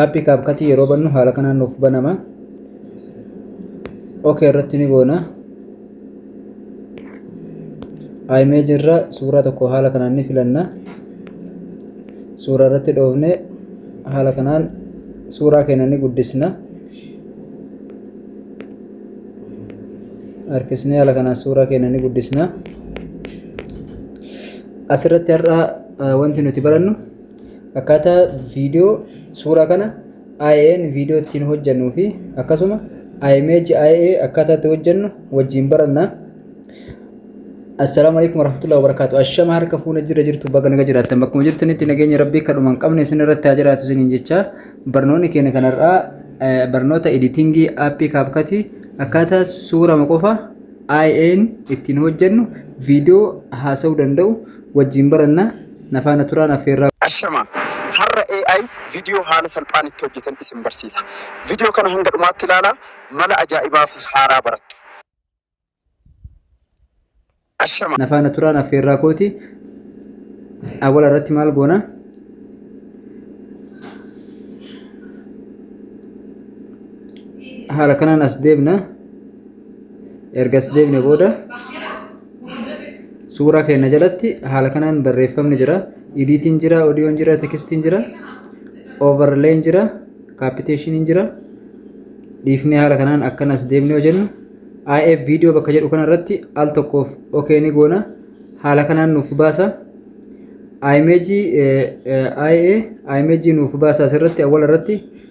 aappii kaapkatii yeroo bannu haala kanaan nuuf banama ok irratti ni goona imeeji irra suuraa tokko haala kanaan ni filanna suuraa irratti dhoofne haala kanaan suuraa keenya ni guddisna harkisnee haala kanaan suuraa keenya ni guddisna asirratti har'aa Wanti nuti barannu akkaataa viidiyoo suuraa kana IAN viidiyoo ittiin hojjennuu fi akkasuma image IA akkaataa itti hojjennu wajjin baranna. Assalaamu alaikum warahmatullahi wabarakatuh. Ashama harka fuuna jira jirtu baga naga jiraattan bakkuma jirtanitti nageenya rabbii kadhuma hin qabne isin irratti haa jiraatu isiniin jecha barnoonni keenya kanarraa barnoota editingii aappii kaapkatii akkaataa suurama qofa IAN ittiin hojjennu viidiyoo haasa'uu danda'u Wajjiin baranna na faana turaan affeerraa. Ashamaa! Har'a AI video haala salphaan itti hojjetan isin barsiisa. Video kana hanga dhumaatti ilaalaa mala ajaa'ibaa fi haaraa barattu. Ashamaa! Na faana turaan affeerraa kooti. Awwala irratti maal goona? Haala kanaan as deebna. ergas deebine booda suuraa keenya jalatti haala kanaan barreeffamni jira idiitiin jira odiyoon jira tekistiin jira overleen jira kaapiteeshiniin jira dhiifnee haala kanaan akkan as deemne yoo jennu IF viidiyoo bakka jedhu kana irratti al tokkoof okee ni goona haala kanaan nuuf baasa imeejii IA imeejii nuuf baasa asirratti awwal irratti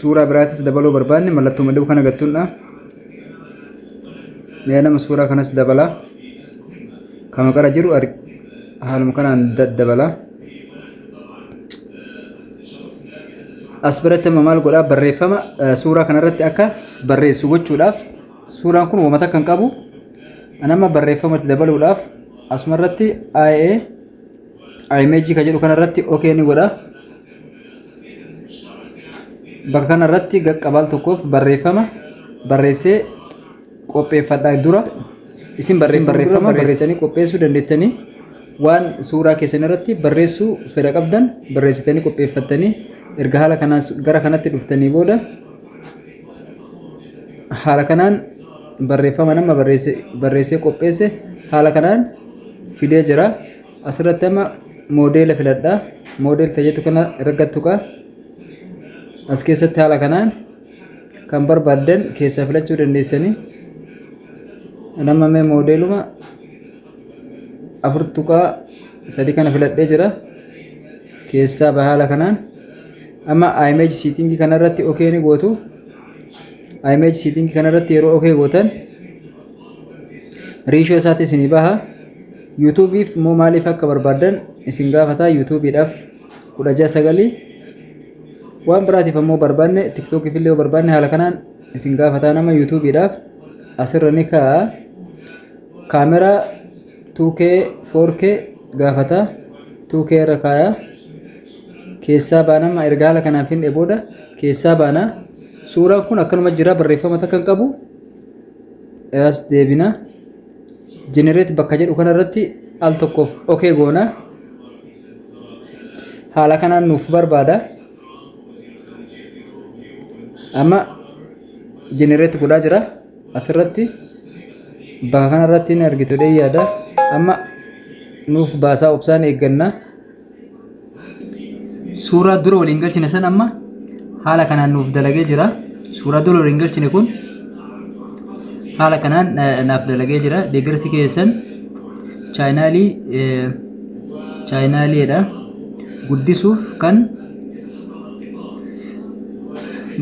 Suuraa biraatis dabaluu barbaanne mallattoo maduu kana gattuudha. Mee nama suuraa kanas dabalaa. Kan maqara jiru haaluma kanaan dabalaa. As biratti amma maal godhaa barreeffama suuraa kanarratti akka barreessu gochuudhaaf suuraan kun wamata kan qabu nama barreeffamatti dabaluudhaaf asumarratti IA img ka jedhu kanarratti ok ni godha bakka kanarratti gaqqabaal tokkoof barreeffama barreessee qopheeffadha dura isin barreeffama barreessanii qopheessuu dandeettanii waan suuraa keessan irratti barreessuu fedha qabdan barreessitanii qopheeffattanii erga haala kanaan gara kanatti dhuftanii booda haala kanaan barreeffama nama barreesse barreessee qopheesse haala kanaan fidee jira asirratti amma moodeela filadha moodeel fayyadu kana irratti tuqa as keessatti haala kanaan kan barbaaddan keessaa filachuu dandeessanii nama mee moodeeluma afur tuqaa sadi kana filadhee jira keessaa bahaala kanaan amma image setting kana irratti ok ni gootu image setting kana irratti yeroo ok gootan riishoo isaatti isinii baha yuutuubiif immoo maaliif akka barbaadan isin gaafata yuutuubiidhaaf kudha ja'a sagalii waan biraatiif ammoo barbaanne tiktookiif illee yoo barbaanne haala kanaan isin gaafataa nama yuutuubiidhaaf asirra ni kaa'a Camera 2K 4K gaafata 2K irra kaaya keessaa baana amma erga haala kanaan finne booda keessaa baana suuraan kun akkanuma jira barreeffama takka hin qabu as deebina generate bakka jedhu kana irratti al tokkoof ok goona haala kanaan nuuf barbaada amma generate godhaa jira asirratti bakka kanarratti ni argitu jedhee yaada amma nuuf baasaa obsaan eegganna suuraa dura waliin galchine san amma haala kanaan nuuf dalagee jira suuraa dura waliin galchine kun haala kanaan eh, naaf dalagee jira deeggarsi keessan chaayinaalii eh, chaayinaaliidha guddisuuf kan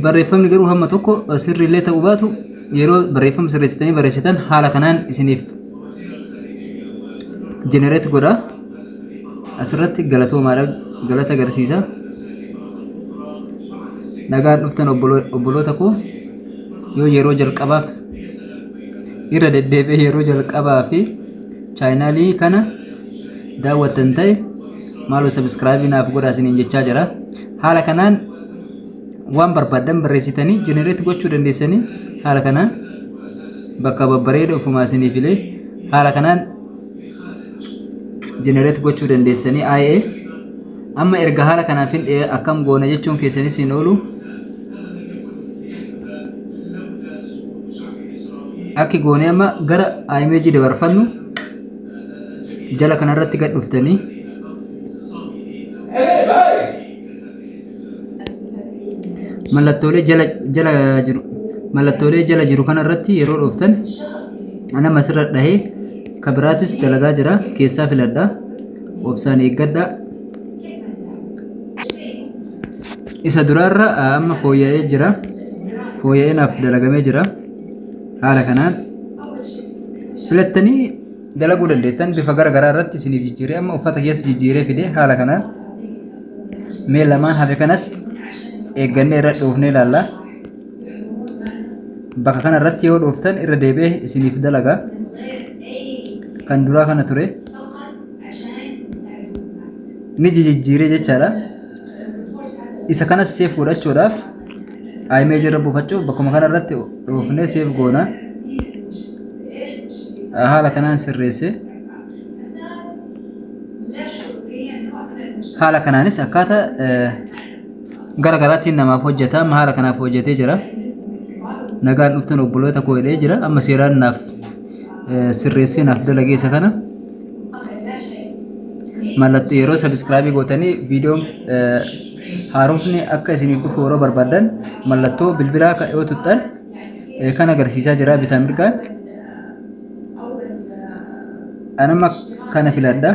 barreeffamni garuu hamma tokko sirrii illee ta'uu baatu yeroo barreeffama sirreessitanii barreessitan haala kanaan isiniif jenereet godha asirratti galatoomaadha galata agarsiisa nagaan dhuftan obbolo- obboloota koo yoo yeroo jalqabaaf irra deddeebi'ee yeroo jalqabaa fi chaayinaalii kana daawwattan ta'e maaloo sabiskiraabii naaf godhaa isiniin jechaa jira haala kanaan waan barbaaddan barreessitanii jenereet gochuu dandeessanii haala kanaan bakka babbareeda ofumaa isinii filee haala kanaan jenereet gochuu dandeessanii IA amma erga haala kanaaf hin dhi'ee akkam goona jechuun keessanis hin oolu akki goonee amma gara img dabarfannu jala kanarratti gad dhuftanii mallattoolee jala jala jiru mallattoolee jala jiru kanarratti yeroo dhuftan ana masirra dhahee kabiraatis dalagaa jira keessaa filadha obsaan eeggadha isa duraarra amma fooyya'ee jira fooyya'ee naaf dalagamee jira haala kanaan filattanii dalaguu dandeettan bifa gara garaa irratti isiniif jijjiiree amma uffata keessa jijjiiree fidee haala kanaan mee lamaan hafe kanas eeggannee irra dhoofnee ilaalla bakka kana irratti yoo dhooftan irra deebi'ee isiniif dalaga kan duraa kana ture. ni jijijjiiree jechaadha. Isa kanas seef godhachuudhaaf image irra buufachuuf bakkuma kana irratti dhoofnee seef goona. Haala kanaan sirreessee haala kanaanis akkaataa gara garaattiin namaaf hojjeta amma haala kanaaf hojjetee jira. Nagaan dhuftan obboloota koo jedhee jira amma seeraan naaf sirreessee naaf dalagee isa kana mallattoo yeroo sabiskiraabii gootanii viidiyoon haaromfni akka isiniif dhufu yeroo barbaadan mallattoo bilbilaa ka- yoo tuttan eh, kan agarsiisaa jira bitaa mirgaan anama kana filadha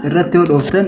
irratti yoo dhooftan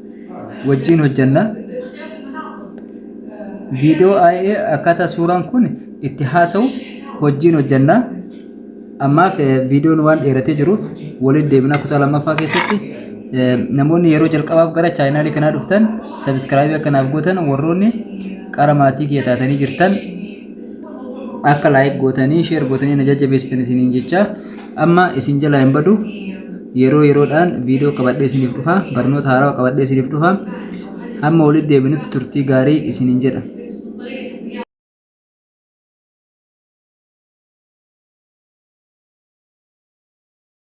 wajjiin hojjanna viidiyoo IA akkaataa suuraan kun itti haasa'u wajjiin hojjanna ammaaf viidiyoon waan dheeratee jiruuf waliin deebinaa kutaa lammaffaa keessatti namoonni yeroo jalqabaaf gara chaayinaalii kanaa dhuftan sabiskiraabii akkanaaf gootan warroonni qara maatii kiyya taatanii jirtan akka laayik gootanii sheer gootanii na jajjabeessitan isiniin jechaa Amma isin jalaa hin badu yeroo yeroodhaan viidiyoo qabadhee isiniif dhufa barnoota haarawaa qabadhee isiniif dhufa hamma walitti deebinutti turtii gaarii isiniin jedha.